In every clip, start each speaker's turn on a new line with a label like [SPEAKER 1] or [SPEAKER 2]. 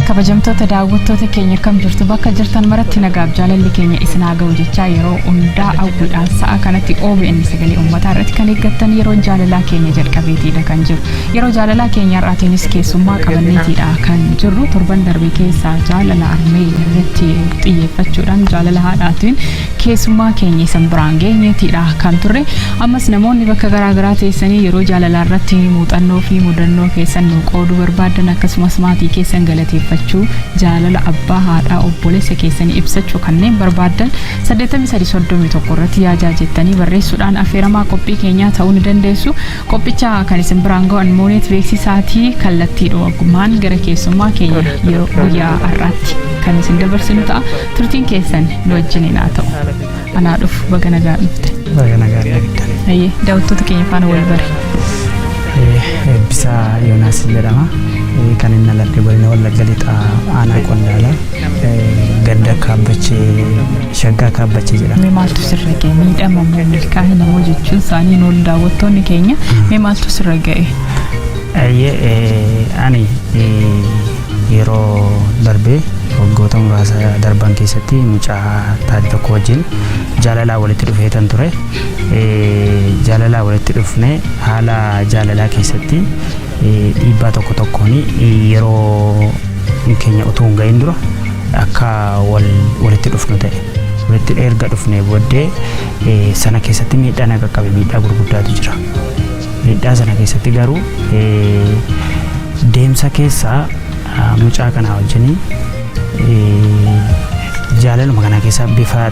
[SPEAKER 1] kabajamtoota daawwattoota keenya akkam jirtu bakka jirtan maratti nagaaf jaalalli keenya isin haa ga'u jechaa yeroo hundaa hawwiidhaan sa'a kanatti OBN sagalee uummataa irratti kan eeggattan yeroo jaalalaa keenya jalqabeetiidha kan jiru yeroo jaalalaa keenya har'aatiinis keessummaa qabanneetiidha kan jirru torban darbe keessaa jaalala armee irratti xiyyeeffachuudhaan jaalala haadhaatiin keessummaa keenya isan biraan geenyeetiidha kan turre ammas namoonni bakka garaa garaa teessanii yeroo jaalalaa irratti muuxannoo fi mudannoo keessan nu qooduu barbaadan akkasumas maatii keessan galateeffachuu jaalala abbaa haadhaa obboleessa keessanii ibsachuu kanneen barbaadan 8331 irratti yaajaa jettanii barreessuudhaan affeeramaa qophii keenyaa ta'uu ni dandeessu Qophicha kan isin biraan ga'an mooneet beeksisaatii kallattii dhowaggumaan gara keessummaa keenya yeroo guyyaa har'aatti kan isin dabarsinu ta'a turtiin keessan nu wajjiniin haa ta'u. Anaa dhufu baga nagaa dhufte. Baga nagaa dhufte.
[SPEAKER 2] Ayyee daawwattoota keenya faana
[SPEAKER 1] wal bari.
[SPEAKER 2] Eebbisaa Yoonaas jedhama. Kan inni aladde godina Wallagga Lixaa aanaa Qondaalaa ganda Kaabbachee Shaggaa Kaabbacha jedhama. Mee maaltu sirra
[SPEAKER 1] ga'e? Miidhama moo milkaa'ina moo jechuun isaanii nool daawwattoonni keenya mee maaltu sirra ga'e? Ayyee
[SPEAKER 2] ani yeroo darbee waggoota muraasa darban keessatti mucaa taate tokko wajjin jaalalaa walitti dhufee tan ture. Jaalalaa walitti dhufnee haala jaalalaa keessatti Dhiibbaa tokko tokkoon yeroo keenya utuu hin gahin dura akka walitti dhufnu ta'e. Walitti erga dhufnee booddee sana keessatti miidhaa na qaqqabe miidhaa gurguddaatu jira. Miidhaa sana keessatti garuu deemsa keessaa mucaa kanaa wajjin jaalaluma kana keessa bifa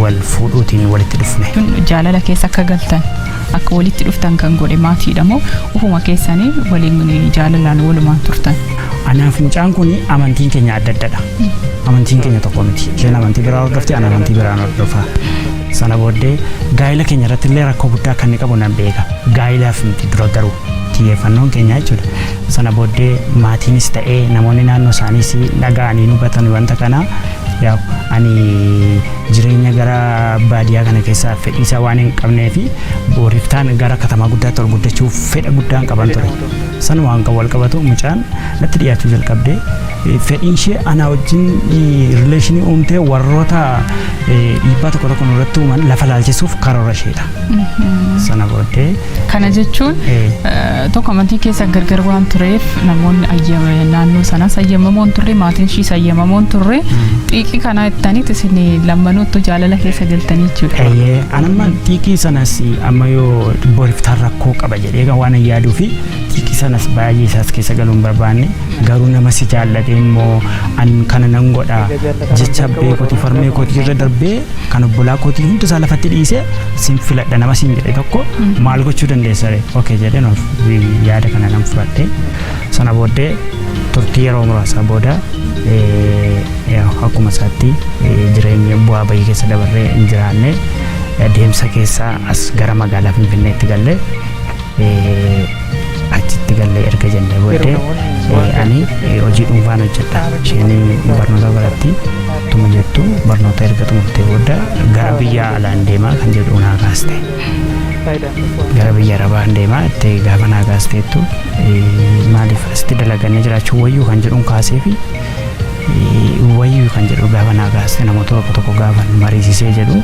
[SPEAKER 2] wal fuudhuutiin walitti dhufne. Jaalala keessa akka
[SPEAKER 1] galtan. Akka walitti dhuftan kan godhe maatiidha moo ofuma keessanii waliin jaalalaan walumaan turtan? Anaaf mucaan
[SPEAKER 2] kun amantiin keenya adda addadha. Amantiin keenya tokko miti. Isheen amantii biraa hordofti, ana amantii biraan hordofa. Sana booddee gaa'ila keenya irratti illee rakkoo guddaa akka inni qabu nan beeka. Gaa'ilaaf miti dura garuu. xiyyeeffannoon keenya jechuudha. Sana booddee maatiinis ta'ee namoonni naannoo isaaniis dhaga'anii hin hubatan wanta kana yaa ani jireenya gara baadiyyaa kana keessaa fedhiisaa waan hin qabnee fi booriftaan gara katamaa guddaatti ol guddachuuf fedha guddaan qaban ture. Sana waan kan wal qabatu mucaan natti dhiyaachuu jalqabde fedhiin ishee anaa wajjin rileeshinii uumtee warroota dhiibbaa tokko tokko nurratti uuman lafa laalchisuuf karoora isheedha. Sana booddee Kana jechuun
[SPEAKER 1] tokko amantii keessa gargar waan tureef namoonni ayyama naannoo sanaas ayyamamoon turre maatiin ishiis ayyamamoon turre xiiqii kanaa ittaniit isin lammanuuttu jaalala keessa galtanii jechuudha. Eeyyee anamma xiiqii
[SPEAKER 2] sanas amma yoo boriftaan rakkoo qaba jedhee kan waan hin yaaduu fi xiiqii sanas baay'ee isaas keessa galuu hin barbaanne garuu nama si jaallatee immoo an kana nan godha jecha abbee kootii farmee kootii irra darbee kan obbolaa kootii hundi isaa lafatti dhiise sin filadha nama sin jedhe tokko maal gochuu dandeessa ree okee jedheen of yaada kana nan fudhadhe sana booddee turtii yeroo muraasaa booda akkuma isaatti jireenya bu'aa bayii keessa dabarree hin jiraanne deemsa keessaa as gara magaalaa finfinneetti galle achitti galle erga jennee booddee ani hojii dhuunfaan hojjedha isheen barnoota baratti tuma jettu barnoota erga xumurtee booda gara biyya alaan deemaa kan jedhu naa kaaste gara biyya arabaan deemaa itti gaafa naa kaasteettu maaliif asitti dalaganii jiraachuu wayyuu kan jedhuun kaasee fi wayyuu kan jedhu gaafa naa kaaste namoota tokko tokko gaafa mariisisee jedhu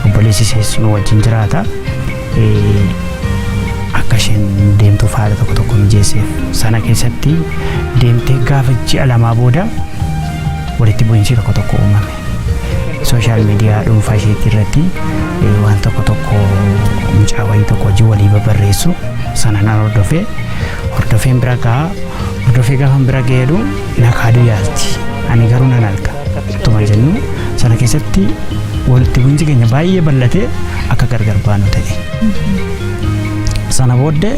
[SPEAKER 2] obboleessi seessu nu wajjin jiraata. akka isheen deemtuuf haala tokko tokko mijeesseef. Sana keessatti deemtee gaafa ji'a lamaa booda walitti bu'iinsi tokko tokko uumame. Sooshaal miidiyaa dhuunfaa isheetii irratti waan tokko tokko mucaa wayii tokko hojii walii babarreessu sana nan hordofee hordofeen bira gahaa hordofee gaafan bira ga'eedu na kaaduu yaalti. Ani garuu nan arga. Ittuma jennu sana keessatti walitti bu'iinsi keenya baay'ee bal'atee akka gargar baanu ta'e. Sana booddee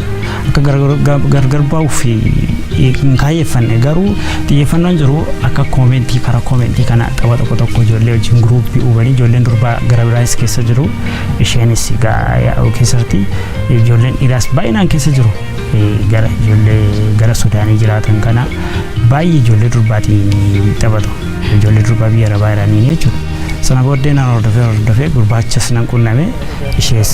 [SPEAKER 2] akka gargar bahuuf hin kaayyeffanne garuu xiyyeeffannoon jiru akka koomentii karaa koomentii kana tapha tokko tokko ijoollee wajjin guruuppii uumanii ijoolleen durbaa gara biraas keessa jiru isheenis keessatti ijoolleen dhiiraas baay'inaan keessa jiru gara ijoollee gara Sudaanii jiraatan kana Baay'ee ijoollee durbaatiin taphatu. Ijoollee durbaa biyya arabaa iraanii jechuudha. Sana booddee nan hordofee hordofee gurbaachas nan qunname ishees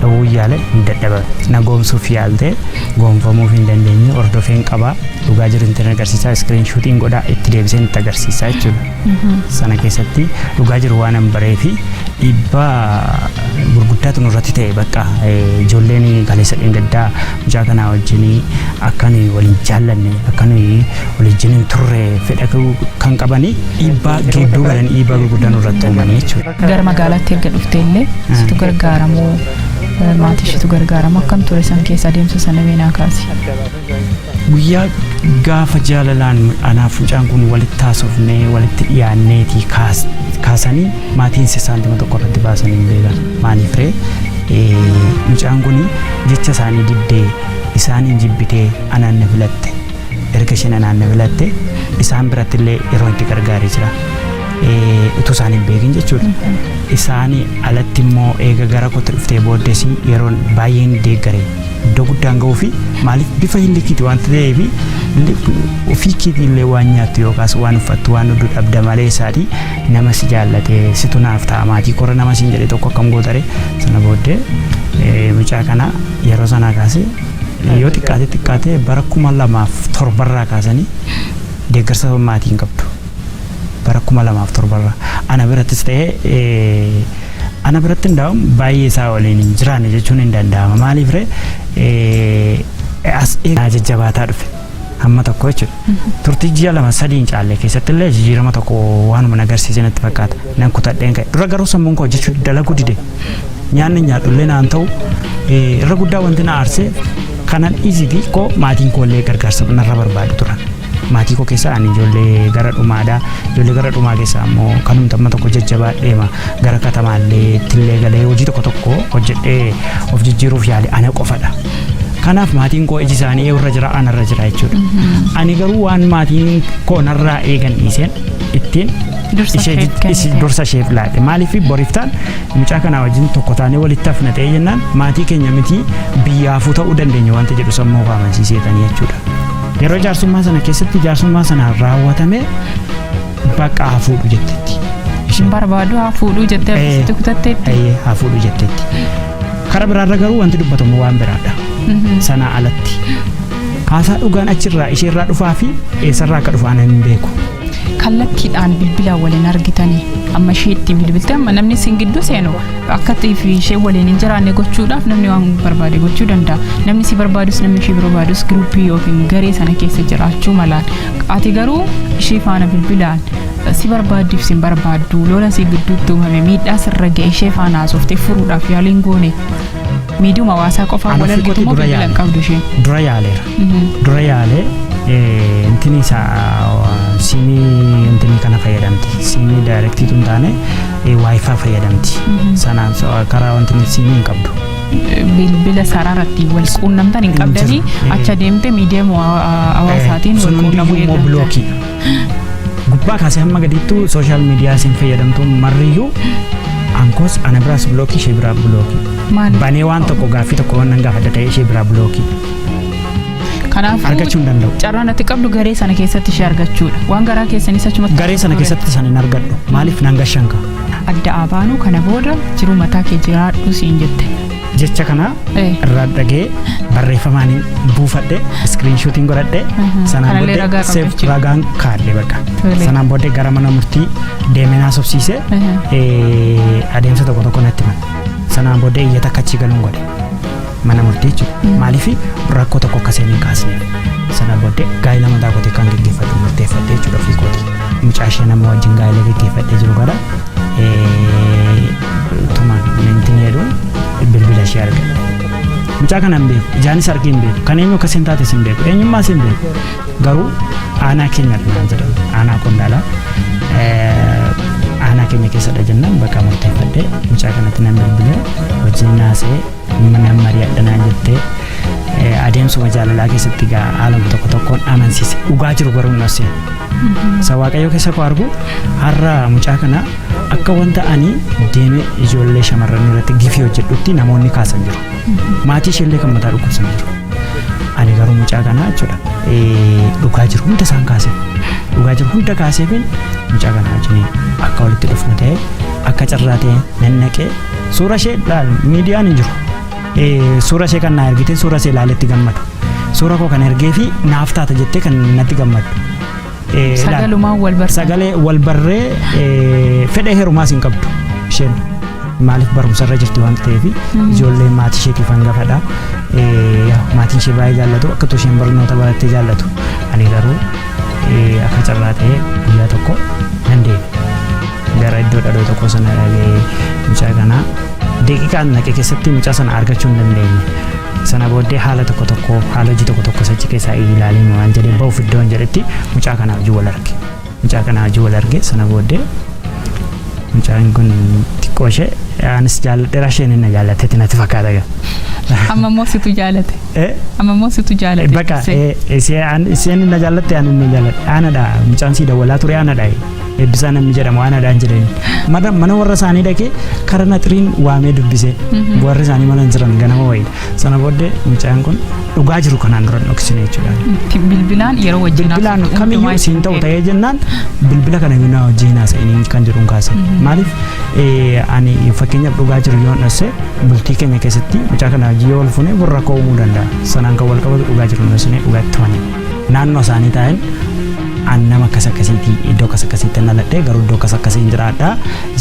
[SPEAKER 2] dhowwuu yaale hin dadhaban. Na goomsuuf yaaltee goomfamuuf hin dandeenye hordofeen qabaa dhugaa jiru hin tirne agarsiisaa iskiriin shuutiin godhaa itti deebiseen itti agarsiisaa jechuudha. Sana keessatti dhugaa jiru waan hin baree fi dhiibbaa gurguddaatu nurratti ta'e bakka ijoolleen kaleessa dheengaddaa Mucaa kanaa wajjin akka nuyi wal hin jaallanne akka nuyi wal wajjin hin turre fedha kan qabanii dhiibbaa gidduu galan dhiibbaa gurguddaa nurratti uumanii jechuudha. Gara magaalaatti erga
[SPEAKER 1] dhuftee illee situ gargaaramoo maatii ishiitu gargaaramoo akkam ture san keessa adeemsa sana mee naa kaasi.
[SPEAKER 2] Guyyaa gaafa jaalalaan anaaf mucaan kun walitti haasofnee walitti dhiyaanneetii kaasanii maatiin isaantima tokko irratti baasanii hin beekan. Maaliif ree? Mucaan kun jecha isaanii diddee, isaaniin jibbitee anaan na filatte. Erga isheen anaan na filatte isaan biratti illee yeroo itti gargaaree jira. Utuu isaan hin beekin jechuudha. Isaanii alatti immoo eega gara kootti dhuftee booddees yeroon baay'een deeggare iddoo guddaan ga'uu fi maaliif bifa hin likiiti waan ta'eef ofii keetii illee waan nyaattu yookaas waan uffattu waan hudduu dhabda malee isaatii Nama si jaallate situ naaf ta'a maatii koorra nama siin jedhe tokko akkam goota ree? Sana booddee eh, mucaa kana yeroo sanaa kaasee yoo xiqqaate xiqqaate bara kuma lamaaf torbarraa kaasanii deeggarsa maatii hin qabdu. Bara kuma lamaaf torbarraa ana birattis ta'ee eh, ana biratti hundaa'uun baay'ee isaa waliin hin jiraanne jechuun hin danda'ama. Maaliif ree? Eh, As eegaa jajjabaataa dhufe. Amma tokko jechuudha. Turtii ji'a lama sadii hin caalle keessatti illee jijjiirama tokko waanuma na agarsiise natti fakkaata. Nan kutadheen ka'e. Dura garuu sammuun koo hojjechuu dalaguu dide. Nyaanni hin nyaadhu illee naan ta'u eh, irra guddaa wanti na aarsee kanan dhiisiti koo maatiin koo illee gargaarsa narra barbaadu turan. Maatii koo keessaa ani ijoollee gara dhumaadha. Ijoollee gara dhumaa keessaa ammoo kanumti amma tokko jajjabaa deema gara katamaallee ittillee galee hojii tokko tokko hojjedhee of jijjiiruuf yaale ana qofadha. Kanaaf maatiin koo iji isaanii eeyyurra jira anarra jira jechuudha. Ani garuu waan maatiin koo narraa eegan dhiiseen ittiin Dursa ishee isheef jid- ishi- kennite. dursa isheef laadhe maaliif boriftaan mucaa kanaa wajjin tokko taanee walitti hafna ta'ee jennaan maatii keenya miti biyyaafuu ta'uu dandeenya wanta jedhu sammuu koo amansiiseetanii jechuudha. Yeroo jaarsummaa sana keessatti jaarsummaa sana raawwatame bakka haa fuudhu jettetti. Isheen barbaadu
[SPEAKER 1] haa fuudhuu jettee Eh. akkasitti kutatteetti. Eeyyee, haa fuudhu jettetti.
[SPEAKER 2] Kara biraarra garuu wanti dubbatamu waan biraadha. Sanaa alatti. Haasaa dhugaan achirraa isheerraa dhufaa fi eessarraa akka dhufaan hin beeku. kallattiidhaan
[SPEAKER 1] bilbilaan waliin argitanii amma ishee ittiin bilbilte amma namni isin gidduu seenu akka fi ishee waliin hin jiraanne gochuudhaaf namni waan barbaade gochuu danda'a namni si barbaadus namni ishee barbaadus giruuppii yookiin garee sana keessa jiraachuu malaan ati garuu ishee faana bilbilaan si barbaaddiif sin barbaaddu lola si gidduutti uumame miidhaa sirra ga'e ishee faana haasofte furuudhaaf yaaliin goone miidiyuma hawaasaa qofaa Ana wal argitu ofitti moo dura bilbila hin yaale. qabdu isheen. dura yaaleera
[SPEAKER 2] dura yaalee eh, intini isaa siimii intini kana fayyadamti siimii daayirektiitu hin taane eh, waayifaa fayyadamti sanaan so- karaa wanti siimii hin qabdu bilbila
[SPEAKER 1] saraarratti wal quunnamtan hin qabdanii Hin jiru. acha deemte miidiyuma hawaasaatiin wal Sun quunnamuu hundumtuu immoo eegalta. bilookii
[SPEAKER 2] Gubbaa kaasee hamma gadiittuu sooshaal miidiyaa isin fayyadamtu marriyyuu ankoos ana biraas bilookii ishee biraa bilookii. Maali? Banee waan tokko gaaffii tokko waan nan gaafadha ta'ee ishee biraa bilookii.
[SPEAKER 1] Kanaafuu Argachuu hin danda'u.
[SPEAKER 2] carraan ati qabdu garee
[SPEAKER 1] sana keessatti ishee argachuudha. Waan garaa keessanis achumatti Garee sana keessatti san hin
[SPEAKER 2] argadhu. Maaliif nan gashanka? adda abaanuu
[SPEAKER 1] kana booda jiruu mataa kee jiraadhu siin jette. jecha kana
[SPEAKER 2] Eh. irraa dhagee barreeffamaan buufadhe iskiriinshuutiin godhadhe Mhm. sanaan Kanallee booddee ragaa qabda seef jechuudha. ragaan kaadhe bakka Tole. sanaan booddee gara mana murtii deemee naa sobsiise Mhm. eh, adeemsa tokko tokko natti himan sanaan booddee iyyata akka achii galuun godhe mana murtii jechuudha maaliif rakkoo tokko akka seenee kaasne sanaan booddee gaa'ila mataa kootee kan geggeeffadhu murteeffadhe jechuudha ofii kooti mucaa ishee nama wajjin gaa'ila geggeeffadhee jiru gara eh, Tumaan na hin tinee jedhu bilbila ishee arga. Mucaa kana hin beeku ijaanis argee hin beeku kan eenyu akka isheen taates hin beeku eenyummaa ishee hin beeku garuu aanaa keenya dhumaan jedhan aanaa qondaalaa aanaa keenya keessadha jennaan bakka murteeffadhee mucaa kanatti nan bilbilee wajjin naasee nan mari'adha naan jettee adeemsuma jaalalaa keessatti gaa haaluma tokko tokkoon amansiise dhugaa jiru garuu hin dhoksine. Isa waaqayyoo keessa koo argu har'a mucaa kana Akka wanta ani deemee ijoollee shamarranii irratti gifii hojjedhutti namoonni kaasan jiru. Maatii isheellee kan mataa dhukkubsan jiru. Ani garuu mucaa kanaa jechuudha eh, dhugaa jiru hunda isaan kaasee dhugaa jiru hunda kaasee fi mucaa kanaa wajjin akka walitti dhufnu ta'e akka carraa ta'e nan naqee suura ishee laal miidiyaan hin jiru. Eh, Suura ishee kan naa ergite suura ishee ilaaletti gammadu. Suura koo kan ergee fi naaf taata jettee kan natti gammadu. eh, laal.
[SPEAKER 1] Sagalumaan wal bartan. sagalee wal barree
[SPEAKER 2] eh, fedha heerumaas hin qabdu isheen maaliif barumsa irra jirti waan ta'eef ijoolleen maatii isheetiif hangafadha Eh, yaa, maatiin ishee baay'ee jaallatu akka utuu isheen barnoota barattee jaallatu ani garuu eh, akka carraa ta'ee guyyaa tokko nan deeme gara iddoo dhadhoo tokko sana dhagee mucaa kanaa daqiiqaan naqe keessatti mucaa sana argachuu hin dandeenye sana booddee haala tokko tokko haala hojii tokko tokko sachi keessaa ilaalee maal jedhee ba'uuf iddoon jedhetti mucaa kanaa hojii wal arge mucaa kanaa hojii wal arge sana booddee mucaan kun xiqqoo ishee anis jaalladheera isheen inni jaallatetti natti fakkaata gaa. Amma immoo
[SPEAKER 1] situ jaalate. Eh, Amma immoo situ jaalate. Baqa dursee. eh, ishee-
[SPEAKER 2] an- isheen inni jaallatte ani inni jaalladhe aanadha mucaan sii dawwalaa ture aanadha. Eebbisaa namni jedhamu aanaadhaan jedheen. Mana mana warra isaanii dhaqee kara naxiriin waamee dubbisee warri isaanii mana hin jiran ganama wayii. Sana booddee mucaan kun dhugaa jiru kanaan dura hin dhoksine jechuudha. Itti bilbilaan yeroo
[SPEAKER 1] wajjin Bilbilaan haasoftu kamiyyuu hundumaa siin
[SPEAKER 2] ta'u itti ta'ee jennaan bilbila kana yoo naa wajjin haasa'inii kan jedhuun kaase. Maaliif eh, ani fakkeenyaaf dhugaa jiru yoo dhosse bultii keenya keessatti mucaa kana wajjin yoo wal fuune warra koo uumuu danda'a. Sanaan kan wal qabatu dhugaa jiru hin dhossine dhugaa itti himanii. Naannoo isaanii taa'een an nama akkas akkasiiti iddoo akkas akkasiitti dhaladhee garuu iddoo akkas akkasii hin jiraadha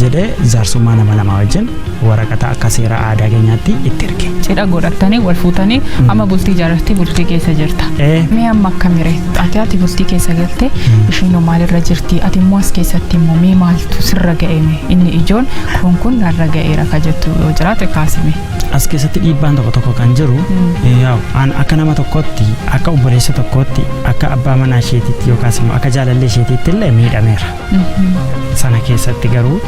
[SPEAKER 2] jedhee jaarsummaa nama lamaa wajjin waraqata akka seera aadaa keenyaatti itti erge. Cidha godhattanii wal
[SPEAKER 1] fuutanii amma bultii ijaarrattee bultii keessa jirta. Ee. Mee amma akkamire ati ati bultii keessa galte ishiinoo maalirra jirti ati immoo as keessatti immoo mee maaltu sirra ga'eeme inni ijoon kun kun narra ga'eera ka jettu yoo jiraate kaasime. As keessatti dhiibbaan
[SPEAKER 2] tokko tokko kan jiru yaa'u an akka nama tokkootti akka obboleessa tokkootti akka abbaa manaa isheetiitti yookaas immoo akka jaalallee isheetiitti illee miidhameera. Sana keessatti garuu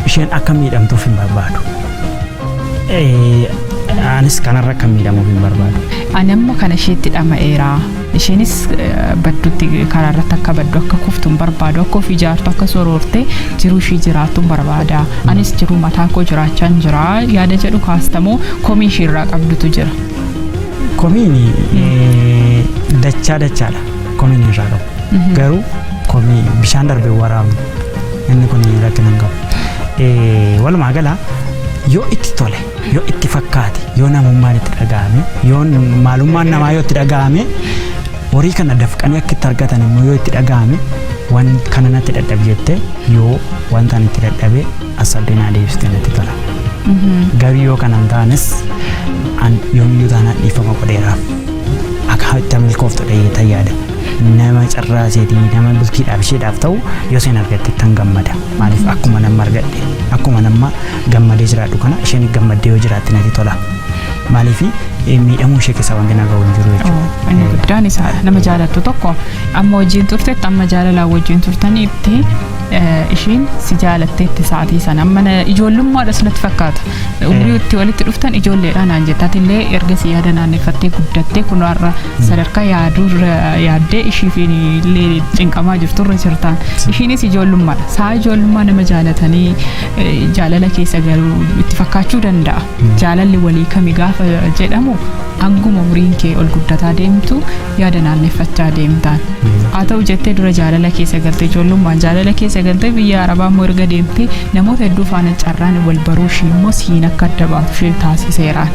[SPEAKER 2] isheen akka miidhamtuuf hin barbaadu. Eh, Anis kanarra akka miidhamuuf hin barbaadu. Ani amma kana
[SPEAKER 1] isheetti dhama'eera. Ishiinis baddutti karaa irratti akka baddu akka kuftu hin barbaadu akka of ijaartu akka soroortee jiruu ishii jiraattu hin barbaada. Anis jiruu mataa koo jiraachaa hin jira yaada jedhu kaastamoo komii ishii irraa qabdutu jira. Komiin
[SPEAKER 2] dachaa dachaadha komiin irraa qabu. Garuu komii bishaan darbe waraabnu inni kun rakkina hin qabu. Walumaa gala yoo itti tole. yoo itti fakkaate yoo namummaan itti dhaga'ame yoo maalummaan namaa yoo itti dhaga'ame horii kana dafqanii akka itti argatan immoo yoo itti dhaga'ame waan kana natti dadhabe jette yoo wanta ani itti dadhabe asabdee naa deebistee natti tola. Garuu yoo kana hin taanes an yoomiyyuu taanaan dhiifama godheeraaf akka itti milkooftu dhahee tayyaada. Nama carraaseetii nama bultiidhaaf isheedhaaf ta'u yoo seen argatte tan gammada. Maaliif akkuma nama argadhe akkuma nama gammadee jiraadhu kana isheen gammaddee yoo jiraatte natti tola. Maaliif miidhamuu ishee keessaa wanti nagaa hin jiru jechuudha. Inni guddaan isaadha.
[SPEAKER 1] Nama jaalattu tokko amma wajjin turtetti amma jaalalaa wajjin turtaniitti eh, ishiin si jaalatteetti sa'aatii sana amma na- ijoollummaadhas natti fakkaata. Umrii itti walitti dhuftan ijoolleedha naan jette atillee erga si yaada naanneeffattee guddattee kun har'a sadarkaa yaaduurra yaaddee ishiif illee cinqamaa jirturra jirtaan. Ishiinis ijoollummaadha. Sa'a ijoollummaa nama jaalatanii Jaalala keessa galuu itti fakkaachuu danda'a. Jaalalli walii kami gaafa jedhamu hanguma umriin kee ol guddataa deemtu yaada naanneffachaa deemtaan. Haa ta'u jettee dura jaalala keessa galte ijoollummaan jaalala keessa galte biyya arabaa immoo erga deemtee namoota hedduu faana carraan wal baruu ishii immoo siin akka adda baatu ishee taasiseeraan.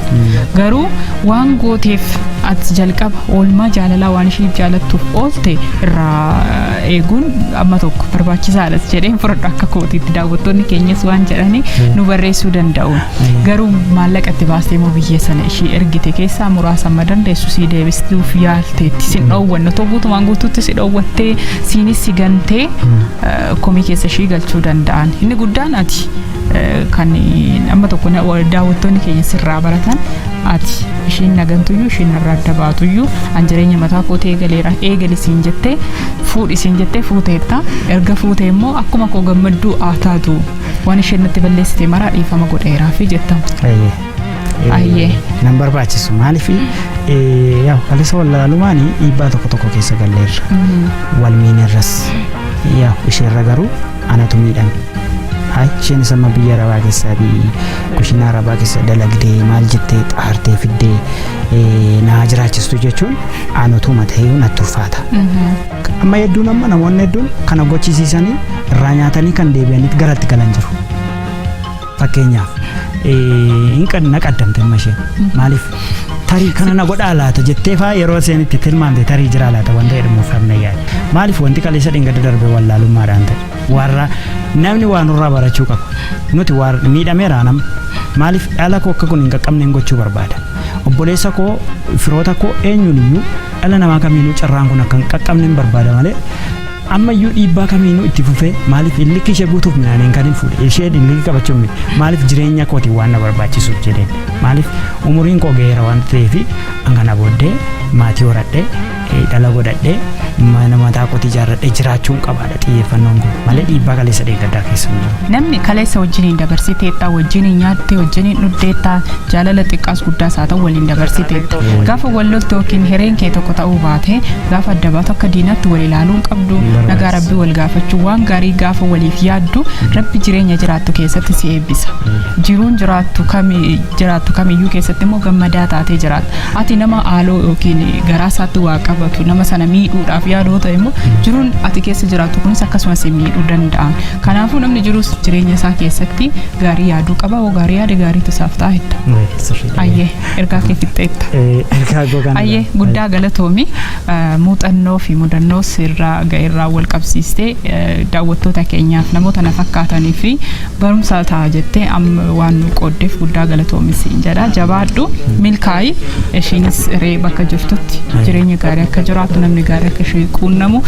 [SPEAKER 1] Garuu waan gooteef ati jalqaba oolmaa jaalalaa waan ishiif jaalattuuf oolte irraa eeguun amma tokko barbaachisaadhas jedheen fudhadhu akka kootiitti daawwattoonni keenyas waan jedhanii nu barreessuu danda'u garuu maallaqa itti baastee moo biyya sana ishii ergite keessaa muraasa amma dandeessu sii deebistuuf yaalteetti sin dhoowwanne otoo guutumaan guutuutti si dhoowwattee siinis si gantee komii keessa ishii galchuu danda'an inni guddaan ati kan amma tokko daawwattoonni keenya sirraa baratan ati ishiin nagantuyyuu ishiin narraa adda baatuyyuu an jireenya mataa kootii eegaleera eegali siin jettee fuudhi siin jettee fuuteetta erga fuutee immoo akkuma koo gammadduu haa taatu waan isheen natti balleessite maraa dhiifama godheeraa fi jettamu. Ayyee. Nan barbaachisu
[SPEAKER 2] maaliif yaa kaleessa wallaalumaan dhiibbaa tokko tokko keessa galleerra wal miinerras yaa isheerra garuu anatu miidhame. Haacheen samma biyya arabaa keessaa fi kushinaa arabaa keessa dalagdee maal jettee xaartee fiddee eh, naa jiraachistu jechuun anatu matayyuu natti ulfaata. Amma hedduun amma namoonni hedduun kana gochisiisanii irraa nyaatanii kan deebi'anitti garatti galan jiru. Fakkeenyaaf hin qan na qaddamte amma isheen maaliif tarii kana na godhaa laata jettee faa yeroo isheen itti tilmaamte tarii jiraa laata wanta jedhamu fannee yaada. Maaliif wanti kaleessa dhingada darbe wallaalummaadhaan ta'e warra namni waa nurraa barachuu qaba. Nuti waa miidhameeraa nama maaliif dhala koo akka kun hin qaqqabneen gochuu barbaada. Obboleessa koo firoota koo eenyuun iyyuu dhala namaa kamiinuu carraan kun akka hin qaqqabneen barbaada malee Ammayyuu dhiibbaa kamiinuu itti fufee maaliif illikki ishee guutuuf midhaaniin kan hin fuudhe isheen illikki qabachuun miti maaliif jireenya kootiin waan na barbaachisuuf jedheen maaliif umuriin koo ga'eera waan ta'eef an kana booddee maatii horadhee dhala godhadhee mana mataa kootii ijaarradhee jiraachuun qabaadha xiyyeeffannoon koo malee dhiibbaa kaleessa deeggaddaa keessa hin jiru. Namni kaleessa
[SPEAKER 1] wajjiniin dabarsiteetta, wajjiniin nyaattee, wajjiniin dhuddeetta, jaalala xiqqaas guddaas haa ta'u waliin dabarsiteetta. Gaafa wal loltu yookiin hireen kee tokko ta'uu baate, gaafa adda baatu akka diinaatti wal ilaaluu hin qabdu. Nagaa Rabbii wal gaafachuu waan gaarii gaafa waliif yaaddu Rabbi jireenya jiraattu keessatti si eebbisa. Jiruun jiraattu kami jiraattu kamiyyuu keessatti immoo gammadaa taatee jiraatta. Ati nama haaloo yookiin garaa isaatti waa qabatu nama sana miidhuudhaaf yaaduu ta'e immoo jiruun ati keessa jiraattu kunis akkasumas si miidhuu danda'a. Kanaafuu namni jiruus jireenya isaa keessatti gaarii yaaduu qaba. Hoo gaarii yaade gaariitu isaaf ta'a jetta. Maayikil sirriidha. Ayyee ergaa kee fixxeetta. Eh, Ergaa koo kana Ayyee irraa- guddaa galatoomi Eh, muuxannoo fi mudannoo sirraa ga'eerraa wal qabsiistee eh, daawwattoota keenyaaf namoota na fakkaatanii fi barumsaa ta'a jettee amma waan nu qooddeef guddaa galatoomi siin jedha jabaadhu milkaa'i ishiinis ree bakka jirtutti jireenya gaarii akka jiraatu namni gaarii akka ishee quunnamu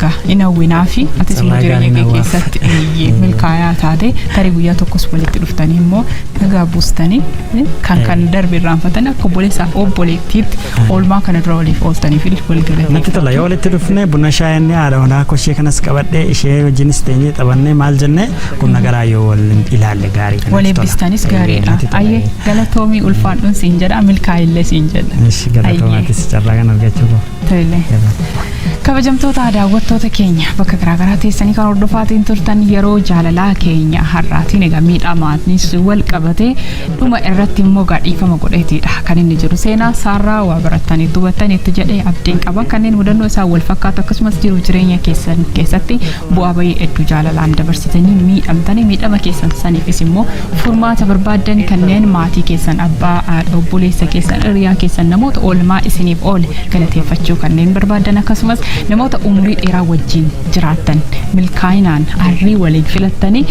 [SPEAKER 1] ga in hawwinaafi atis immoo Carraa jireenya gaarii kee na waaf. keessatti eeyyee milkaayaa taate tarii guyyaa tokkos walitti dhuftanii immoo nagaa buustanii eh, kan kan darbe irraanfatanii akka obboleessaa fi obboleettiitti oolmaa kana dura waliif ooltaniif illee wal Natti galatee tola yoo walitti dhufne
[SPEAKER 2] buna shaayinni haadha manaa koo ishee kanas qabadhee ishee wajjinis teenyee taphannee maal jennee qunna garaa yoo wal ilaalle gaarii dha, natti wal tola. eebbistanis Eeyyee,
[SPEAKER 1] gaariidha natti tola, ayyee eeyyee. galatoomii ulfaadhuun siin jedha milkaa'illee siin jedha Ishi Ayyee. galatoomatis carraa
[SPEAKER 2] kan argachuu koo. Tole.
[SPEAKER 1] Kabajamtoota daawwattoota keenya bakka garaagaraa teessanii kan hordofaatiin turtan yeroo jaalalaa keenya har'aatiin egaa miidhamaanis wal qabatee dhuma irratti immoo gaadhiifama godheetiidha kan inni jiru seenaa saarraa waa baratanii dubatanii itti jedhee abdiin qaba kanneen mudannoo isaa wal fakkaatu akkasumas jiru jireenya keessan keessatti bu'aa bayii hedduu jaalalaan dabarsitanii miidhamtanii miidhama keessan saniifis immoo Furmaata barbaaddan kanneen maatii keessan abbaa, haadha, obboleessa keessan, hiriyaa keessan, namoota oolmaa isiniif oole galateeffachuu kanneen barbaaddan akkasumas namoota umurii dheeraa wajjin jiraattan milkaa'inaan arrii waliin filattanii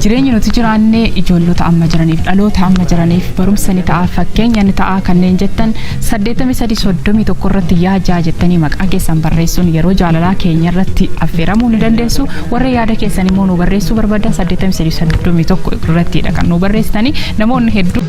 [SPEAKER 1] jireenya nuti jiraannee ijoollota amma jiraniif dhaloota amma jiraniif barumsa ni ta'a fakkeenya ni ta'a kanneen jettan 8331 irratti yaa jaa jettanii maqaa keessan barreessuun yeroo jaalalaa keenya irratti affeeramuu ni dandeessu warra yaada keessan immoo nu barreessuu barbaadan 83 31 irrattiidha kan nuu barreessitanii namoonni hedduu.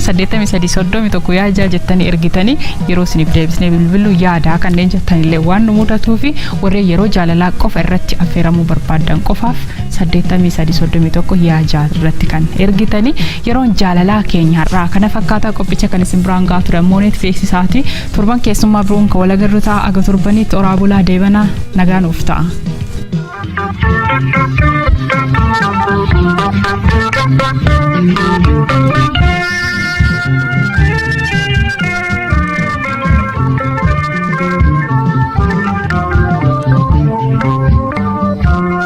[SPEAKER 1] saddeettamii sadii soddomii tokko yaa ijaa jettanii ergitanii yeroo isiniif deebisnee bilbiluu yaadaa kanneen jettanillee waan nu mudatuu fi warreen yeroo jaalalaa qofa irratti affeeramuu barbaadan qofaaf saddeettamii sadii soddomii tokko yaa jaal irratti kan ergitani yeroon jaalalaa keenya har'aa kana fakkaataa qophicha kan isin biraan gahaa ture ammoo neet beeksisaati torban keessummaa biroon kan walagarru ta'a aga torbaniitti oraa bulaa deebanaa nagaa nuuf ta'a.